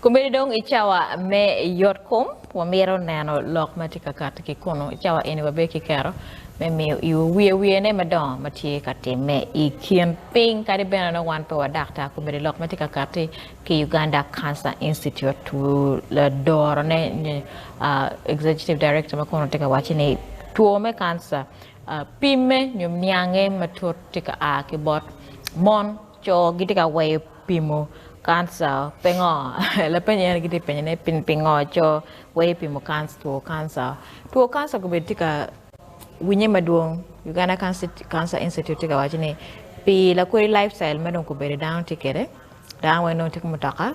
Komedi dong i cawa me yot kom, wamito neno lok ma tye ka katti ki kunu. I cawa eni wabedo ki kero me miyo iwu wiye wiyene madongo ma tye ka timme i kin piny. Kadi bene nongo wan pe wadakta, komedi lok ma tye ka katti ki Uganda Cancer Institute ladorone nyo Executive Director ma kono tye ka wacci ni two me kanca pimme nyo niange matut tye ka a ki bot mon, co gitye ka weyo pimo kanca pingo? Lapeny eni gitye ka penyo ni pingo co weyo pimo two kanca? Two kanca komedo tye ka winye madwong Uganda Cancer Institute tye ka wacci ni pi lakodi life style ma dong kobedo dano tye kwede Dano weng nongo tye ki mutoka,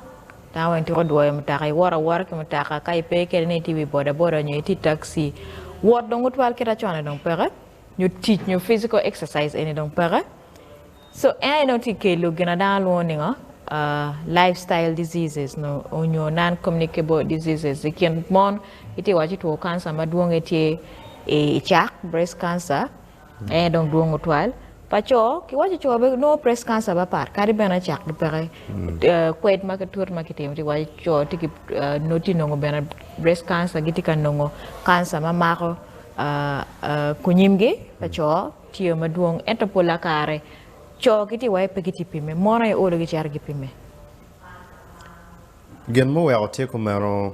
dano weng twero dwoyo mutoka, iwot awota ki mutoka ka ipe kede ni itye i wi boda boda nyo itye i taxi, wot dong otwal kita cone dong peke, nyo tic nyo physical exercise eni dong peke, so en aye dong tye kelo gin ma dano lwongo ningo life style diseases nyo non communicable diseases i kin mon itye waco two cancer madwong aye tye icak breast cancer. Ee dong dwong otwal pa co ki waco co bene nongo breast cancer pe pat kadi bene acak gi peke kwed ma ki twot ma ki timo tye ka waco co tye ki nongo tye nongo bene breast cancer gitye ka nongo cancer ma mako kunyimgi pa co tye o madwong ento pola kare co ki tye waco pe ki tye pimme mon aye olo gi cito gi pimme. Gin muweko tye kumeno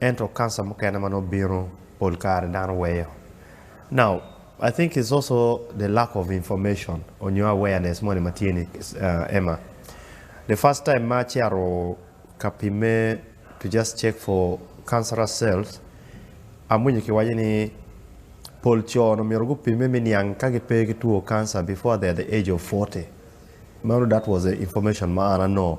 Ento cancer mukene ma nongo bino pol kare dano weyo. Now I think it's also the lack of information onyo awareness moni ma tye ni Emma. The first time ma ace aro ka pimme to just check for cancerous cells, amwinyo ki waco ni pol co ni omyero gu pimme me niang ka gi pe ki two cancer before they are the age of forty. Mano that was the information ma an anongo.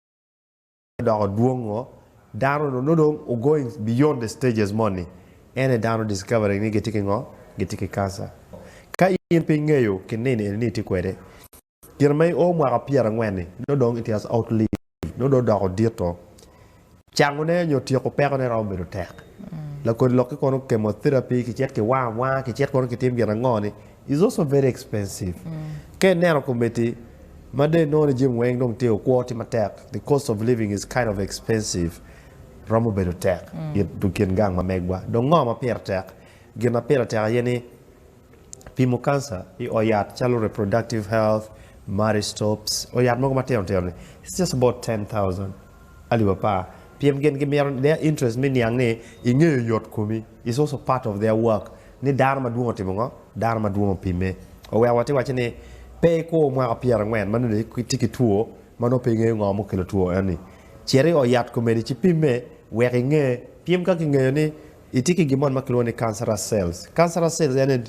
odoko dwong ngo dano nongo dong o going beyond the stages moni en aye dano discovering ni gitye ki ngo gitye ki cancer ka in pe ingeyo ki nino eni ni itye kwede gin ma i o mwaka pyera angwen ni nongo dong it has outlived nongo dong odoko dito cango ne nyo tyeko peko ne romo bedo tek lakodi lok ki kono chemotherapy kicit kiwango awanga kicit kono kitim gin ango ni is also very expensive ka ineno komiti ma dong inongo ni jami weng dong tye okwo tye matek the cost of living is kind of expensive romo bedo tek i kin gang ma megwa dong ngo ma pire tek gin ma pire tek aye ni pimo cancer i ot yat calo reproductive health marriage stops ot yat mogo matino tino ni it's just about ten thousand Alip apar, pien gin gimito, their interest me niang ni ingeyo yot komi is also part of their work, ni dano madwong otimo ngo, dano madwong opimme. Oweko watye wacce ni pe ikwo mwaka pyera angwen ma nongo itye ki two ma nongo pe ingeyo ngo mukelo two eni, cit i ot yat komedi ci pimme wek inge, pim ka kingeyo ni itye ki gin moni ma kilwongo ni cancerous cells, cancerous cells eni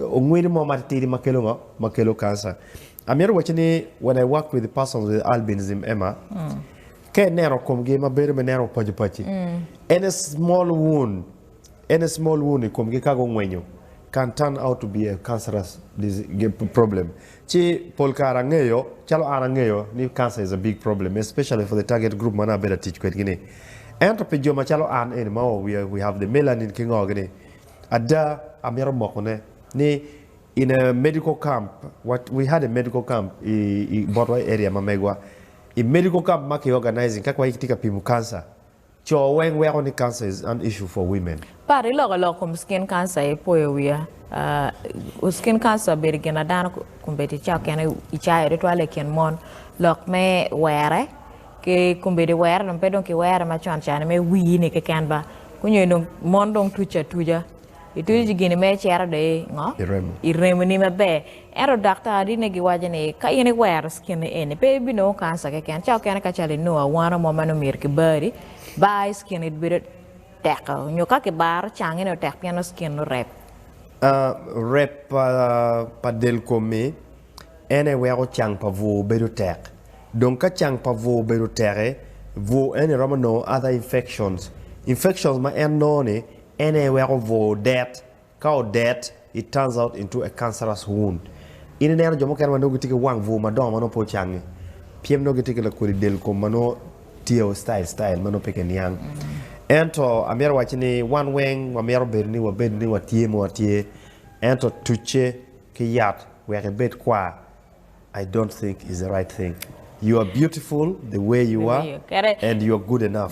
ongwidi mo matitidi ma kelo ngo, ma kelo cancer. Amito wacci ni when I work with persons with albinism, Emma, ka ineno komgi ma bedo me neno opaco paci, en a small wound, en a small wound i komgi ka gungwenyo can turn out to be a cancerous problem. Ci pol kare angeyo, calo an angeyo ni cancer is a big problem especially for the target group ma nongo abedo ka tic kwedgi ni. Ento pi jo macalo an eni ma we have the melanin ki ngo gini, ada amito mokone ni In a medical camp, what we had a medical camp i i botwa i area ma megwa. I medical camp ma ki organizing kak waye kitye ka pimo cancer. Co weng weko ni cancer is an issue for women. Pat iloko lok kom skin cancer ipoyo wiya uh skin cancer bedo gin a dano kombeddi ca okene i cayo tutwal i kin mon lok me were ki kombeddi were dong pe dong ki were macon cani me wii ni keken ba kunyo dong mon dong tuc atuca. Ituco ci gini mere cito dong i ngo? I remoni maber. Ento daktarine giwaco ni ka in iwero cikinni eni pe ibinongo kanca keken. Ca okene ka calo inongo awano mo ma nongo myero kibari, bar i cikinni bedo tekko nyo ka kibaro cangi ni otek pien nongo cikinni orep. Rep pa del komi en aye weko cang pa bwur bedo tek. Dong ka cang pa bwur obedo tek-ki, bwur eni romo nongo other infections. Infections ma en nongo-ni En aye weko bur odet. Ka odet, it turns out into a cancerous wound. In ineno jo mukene ma nongo gitye ki wang bur madongo ma nongo pe ocangngi pien nongo gitye ki lakodi del kom ma nongo tye o style style ma nongo pe kiniang. Ento amito wacci ni wan weng wamito bedo ni wabed ni watye ma watye, ento tucce ki yat wek ibed kwar, I don't think is the right thing. You are beautiful the way you are and you are good enough.